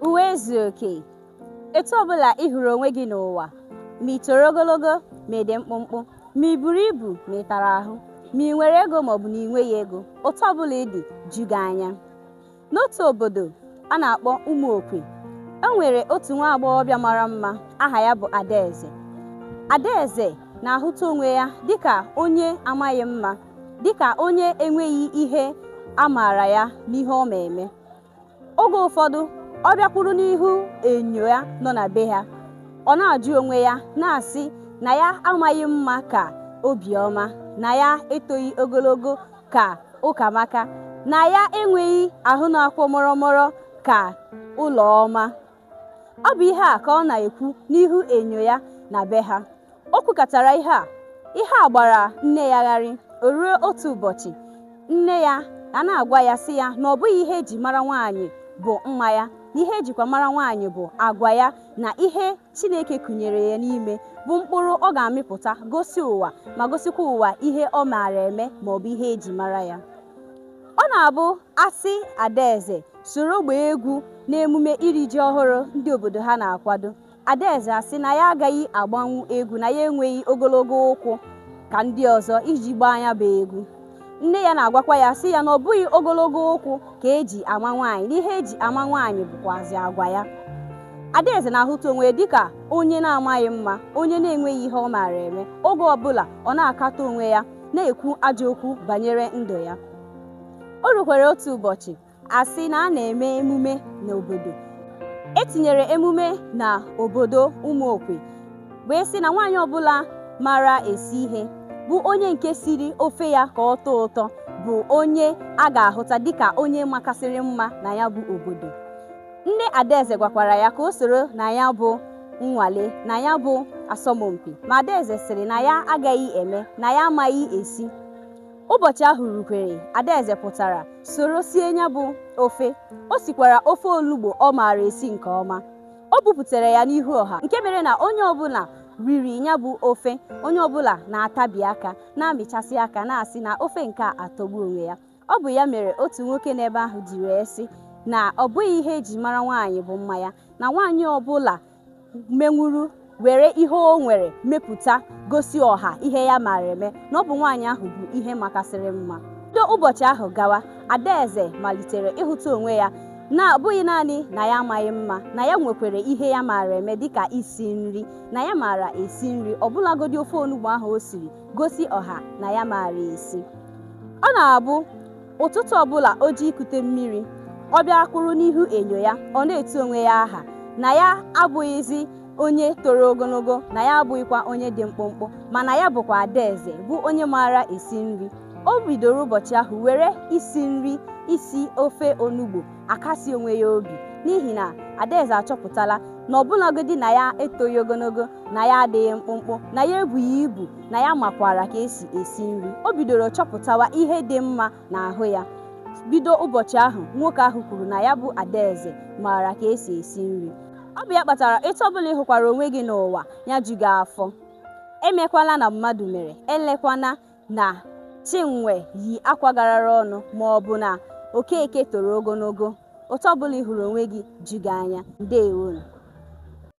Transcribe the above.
Uwe ezu oke. Etu ọbụla ị hụrụ onwe gị n'ụwa, ma ị toro ogologo ma ị dị mkpụmkpụ, ma ị buru ibu ma ị tara ahụ, ma ị nwere ego maọbụ na ị nweghị ego, otu ọbụla ị dị, ju gị anya. N'otu obodo a na-akpọ Ụmụokwe, e nwere otu nwa agbọghọbịa mara mma aha ya bụ Adaeze. Adaeze na-ahụta onwe ya dịka onye amaghị mma, dịka onye enweghị ihe a maara ya n'ihe ọ ma eme. Oge ụfọdụ, ọ bịakwuru n'ihu enyo ya nọ na be ha. Ọ na-ajụ onwe ya, na-asị na ya amaghị mma ka Obiọma, na ya etoghị ogologo ka Ụkamaka, na ya enweghị ahụ na-akwọ mọrọmọrọ ka Ụlọma. ọ bụ ihe a ka ọ na-ekwu n'ihu enyo ya na be ha o kwukatara ihe a ihe a gbara nne ya gharị o ruo otu ụbọchị nne ya a na-agwa ya sị ya na ọ bụghị ihe e ji mara nwaanyị bụ mma ya na ihe e jikwa mara nwaanyị bụ agwa ya na ihe Chineke kụnyere ya n'ime bụ mkpụrụ ọ ga-amịpụta gosi ụwa ma gosikwa ụwa ihe ọ maara eme ma ọ bụ ihe e ji mara ya ọ na-abụ a sị Adaeze soro gbaa egwu n'emume iri ji ọhụrụ ndị obodo ha na-akwado. Adaeze asị na ya agaghị agbanwu egwu na ya enweghị ogologo ụkwụ ka ndị ọzọ iji gbaa ya bụ egwu. Nne ya na-agwakwa ya sị ya na ọ bụghị ogologo ụkwụ ka e ji ama nwaanyị, na ihe e ji ama nwaanyị bụkwazị agwa ya. Adaeze na-ahụta onwe ya dịka onye na-amaghị mma, onye na-enweghị ihe ọ maara eme. Oge ọbụla, ọ na-akatọ onwe ya, na-ekwu ajọ okwu banyere ndụ ya. O rukwara otu ụbọchị, a sị na a na-eme emume n'obodo e tinyere emume na obodo Ụmụokwe wee sị na nwaanyị ọbụla mara esi ihe bụ onye nke siri ofe ya ka ọ tọọ ụtọ bụ onye a ga-ahụta dịka onye makasịrị mma na ya bụ obodo nne Adaeze gwakwara ya ka o soro na ya bụ nnwale na ya bụ asọmpi ma Adaeze sịrị na ya agaghị eme na ya amaghị esi Ụbọchị ahụ rukwere, Adaeze pụtara soro sie ya bụ ofe. O sikwara ofe olugbo ọ maara esi nke ọma. O bupụtara ya n'ihu ọha nke mere na onye ọbụla riri ya bụ ofe, onye ọbụla na-atabi aka, na-amịchasị aka na-asị na ofe nke a atọgbu onwe ya. Ọ bụ ya mere otu nwoke n'ebe ahụ ji wee sị na ọ bụghị ihe e ji mara nwaanyị bụ mma ya, na nwaanyị ọbụla menwuru were ihe o nwere mepụta gosi ọha ihe ya maara eme na ọ bụ nwaanyị ahụ bụ ihe makasịrị mma bido ụbọchị ahụ gawa Adaeze malitere ịhụta onwe ya na abụghị naanị na ya amaghị mma na ya nwekwara ihe ya maara eme dịka isi nri na ya maara esi nri ọbụlagodi ofe onugbu ahụ o siri gosi ọha na ya maara esi ọ na-abụ Ụtụtụ ọbụla o ji ikute mmiri, ọ bịa kwụrụ n'ihu enyo ya, ọ na-etu onwe ya aha na ya abụghịzi onye toro ogologo, na ya abụghịkwa onye dị mkpụmkpụ, mana ya bụkwa Adaeze, bụ onye maara esi nri. O bidoro ụbọchị ahụ were isi nri, isi ofe onugbo. akasi onwe ya obi n'ihi na Adaeze achọpụtala na ọbụlagodi na ya etoghị ogologo na ya adịghị mkpụmkpụ na ya ebughị ibu na ya makwara ka esi esi nri o bidoro chọpụtawa ihe dị mma n'ahụ ya bido ụbọchị ahụ nwoke ahụ kwuru na ya bụ Adaeze maara ka esi esi nri ọ bụ ya kpatara etu ọbụla ị hụkwara onwe gị n'ụwa ya ju gị afọ emekwala na mmadụ mere elekwana na Chinwe yi akwa garara ọnụ ma ọ bụ na Okeke toro ogologo. Otu ọbụla ị hụrụ onwe gị ju gị anya. Ndewonu.